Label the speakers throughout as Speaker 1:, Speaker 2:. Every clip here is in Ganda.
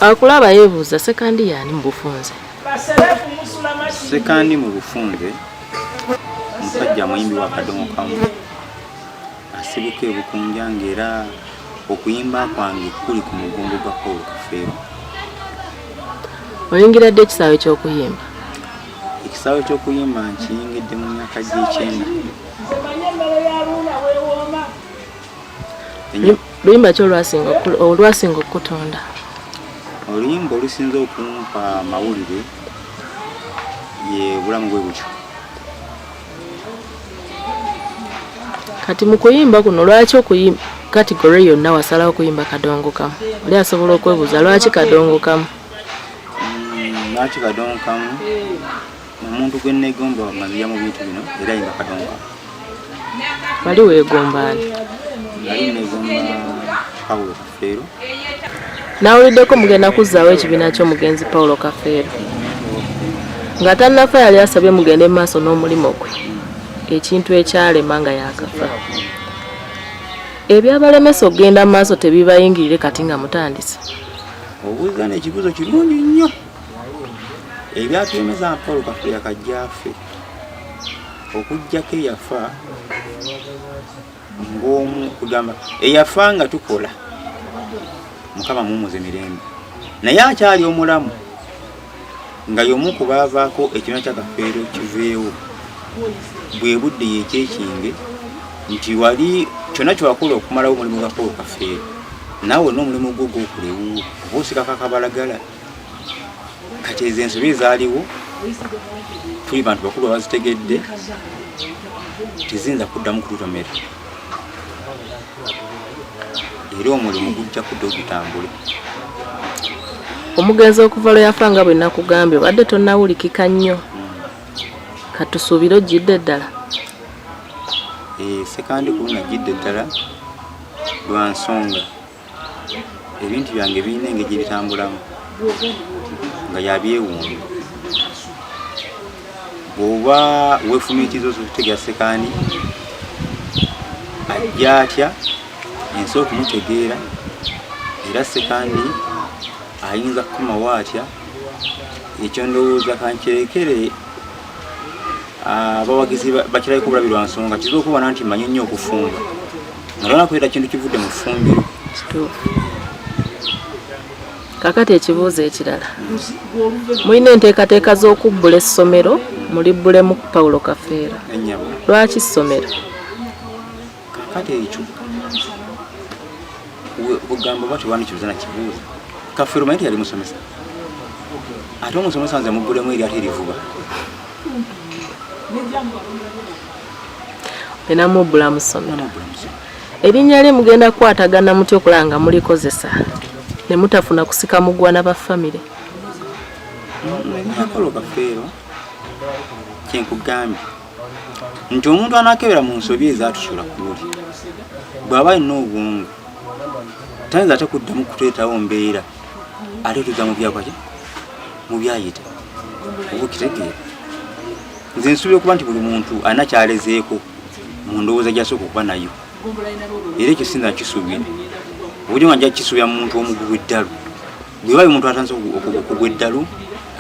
Speaker 1: akulaba yebuuza sekandi yaani mu bufunze sekandi
Speaker 2: mu bufunze omusajja muyimbi wa kadomo kamu asibuka ebukunja ngaera okuyimba kwange kuli ku mugongo gwa paul kafeero
Speaker 1: oyingira ddi ekisaawe ky'okuyimba ekisaawe
Speaker 2: ky'okuyimba nkiyingidde mu myaka gy'ekyenda
Speaker 1: luyimba ki olwasinga olwasinga okukutunda
Speaker 2: oluyimba olusinze okumpa amawulire ye bulamu bwe butyo
Speaker 1: kati mu kuyimba kuno lwaki okuyimba kategore yonna wasalawo okuyimba kadongo kamu oli asobola okwebuuza lwaki kadongo kamu
Speaker 2: mm, lwaki kadongo kamu omuntu gwe nneegomba nga nzija mu bintu bino era yinga kadonga
Speaker 1: wali weegombaani nali
Speaker 2: nneegomba pawulo kafeero
Speaker 1: nawuliddeko mugenda kuzzaawo ekibiina ky'omugenzi pawulo kafeero nga tannafa yali asabye mugende mu maaso n'omulimu gwe ekintu ekyalema nga yakafa ebyabalemesa okugenda mu maaso tebibayingirire kati nga mutandise obuuza
Speaker 2: n'ekibuzo kirungi nnyo ebyatulemeza paul kafeera kajjaafe okujjako eyafa ngaomu kugamba eyafa nga tukola mukama mumuze mirembe naye akyali omulamu nga yomu kubaavaako ekina kyakafeero kiveewo bwe budde yekyekinge nti wali kyonna kyewakola okumalawo omulimu gwa paul kafeero naawe olina omulimu gwo gwokulewuwo oba osikako akabalagala kati ezo ensobi ezaaliwo tuli bantu bakulu abazitegedde teziyinza kuddamu kututomera era omulimu gujja kudda ogutambule
Speaker 1: omugenzi okuva lwe yafa nga bwe nakugambye obadde tonawulikika nnyo katusuubire ojjidde ddala eh,
Speaker 2: sekandi kulunajjidde ddala lwa nsonga ebintu byange birina engeri gye bitambulamu nga yabyewuunya bw'oba weefumiitiriza ozukutegera sekaani ajja atya ensi okumutegeera era sekaani ayinza kukomawo atya ekyo ndowooza kankirekere abawagizi ah, bakirabika obulabi lwa nsonga kizibu okubana nti manyi nnyo okufumba nga lwanakubeera kintu kivudde mu fumbiro
Speaker 1: kakati ekibuuzo ekirala mulina enteekateeka z'okubbula essomero mulibbulemu paulo kafeera lwaki ssomero
Speaker 2: kati ekyo ogamba oba tewandikibuza na kibuuzo kafero maye teyali musomesa ate omusomesa nze muggulemu eri ate erivuba
Speaker 1: enamubbula musomi erinnya lye mugenda kukwatagana muty okulaba nga mulikozesa ne mutafuna kusika mugwana ba famire mm,
Speaker 2: kyenkugambye nti omuntu anakebera mu nsobi ezatusula kuli bw'aba alina obwongo tayinza ate kuddamu kuteetawo mbeera ate tuza mu byakwaki mu byayita oba okitegeera nze nsuubira okuba nti buli muntu alina kyalezeeko mu ndowooza gyasooka okuba nayo era ekyo sinza kisuubira obujo nga nja kisuubira mu muntu omugubu eddalu bwebayo omuntu atanze okugwa eddalu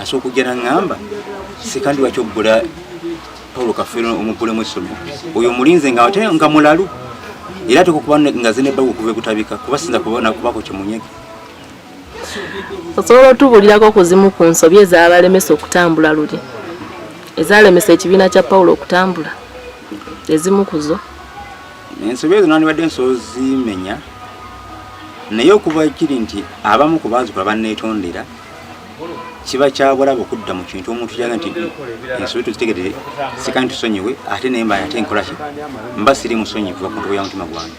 Speaker 2: asobola okujja naŋŋamba sekandi lwaki obbula paulo kafeero omubbulemu essomero oyo omulinze nga ate nga mulalu era ateka okuba nga zinebbaga okuva ekutabika kuba sinza kubako kyemunyege
Speaker 1: osobola otubulirako ku zimu ku nsobi ezabalemesa okutambula luli ezalemesa ekibiina kya paulo okutambula ezimu kuzo ensobi
Speaker 2: ezo nandibadde nsobola zimenya naye okuva kiri nti abamu ku baazikola banneetondera kiba kyabulaba okudda mu kintu omuntu kyaga nti ensobi tuzitegedde sika nti tusonyiwe ate naye mba ate nkolaki mba siri musonyi kuva ku ntobo ya mutima gwange